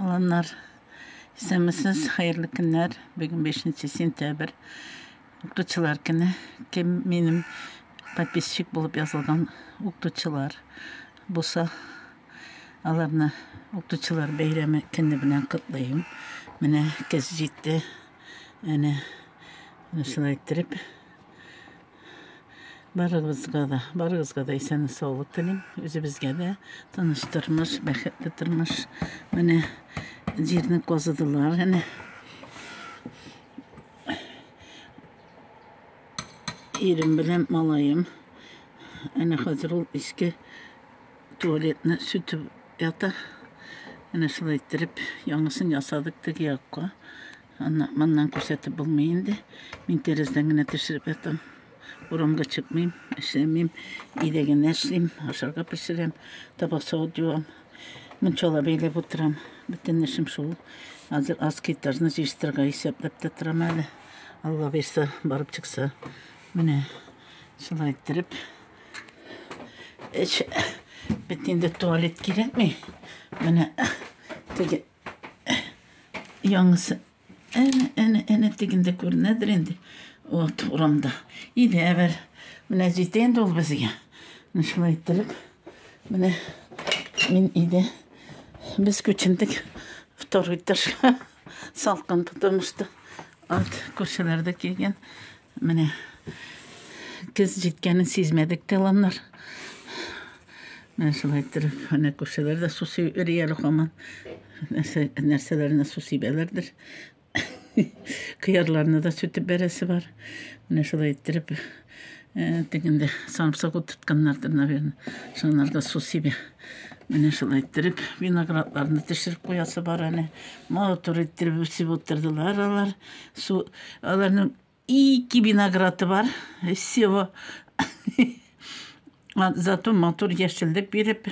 Аланнар, исәнмесез, хәерле көннәр. Бүген 5 сентябрь, укытучылар көне. Кем минем подписчик булып язылган укытучылар булса, аларны укытучылар бәйрәме көне белән котлыйм. Менә көз җитте. Әнә, шулай иттереп, Барыгызга да, барыгызга да исән саулык телим. Үзебезгә дә тыныч тормыш, бәхетле тормыш. Менә җирне казыдылар, әнә. Ирем белән малаем. Әнә хәзер ул иске туалетны сүтеп ята. Әнә шулай иттереп, яңасын ясадык теге якка. Аннан, моннан күрсәтеп булмый инде. Мин тәрәздән генә төшереп ятам. Урамга чыкмыйм, эшләмим, өйдә генә эшлим, ашарга пешерәм, табак савыт юам. Мунчала бәйләп утырам. Бөтен эшем шул. Хәзер аз китарны җыештырырга исәпләп тә торам әле. Алла бирсә, барып чыкса. Менә шулай иттереп. Эш бит инде туалет кирәкми. Менә теге Яңысы әнә, әнә, әнә тегендә күренәдер инде. Вот урамда. Идә бер. Менә җитә инде ул безгә. Шулай иттереп, менә мин иде. Без күчендек второй этажга. Салкын тотымышты. Ат күршеләрдә килгән. Менә көз җиткәнен сизмәдек тә ламнар. Менә шулай иттереп, менә күршеләр дә су сибеп йөри әле һаман. Нәрсә, нәрсәләренә су сибәләрдер. Кыярларны да сүтеп бәрәсе бар. Менә шулай иттереп, э, тегендә самсык утыртканнардыр, наверное. Шуннар да су сибә. Менә шулай иттереп, виноградларны төшереп куясы бар әле. Матур иттереп үсеп утырдылар алар. Су аларның ике винограды бар. Всего зато матур яшеллек биреп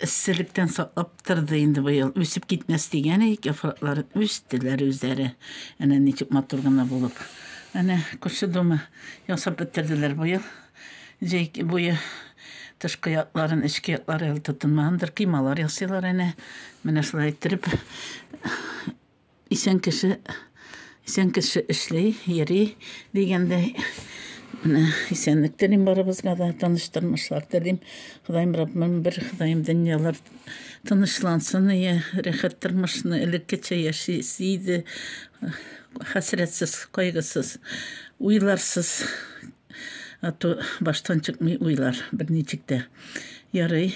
эсселектән саклап торды инде быел. Үсеп китмәс дигән идек, яфраклары үстеләр үзләре. Әнә ничек матур гына булып. Әнә күрше дома ясап бетерделәр быел. Җәй буе тышкы якларын, эчке яклары әле тотынмагандыр, кыймалар ясыйлар әнә. Менә шулай иттереп Исән кеше, исән кеше эшли, йөри дигәндәй. Менә исәнлек телим барыбызга да, тыныч тормышлар телим. Ходаем Раббым, бер Ходаем дөньялар тынычлансын, ие, рәхәт тормышны элеккечә яшис иде. Хәсрәтсез, кайгысыз, уйларсыз. Ату баштан чыкмый уйлар берничек тә. Ярый.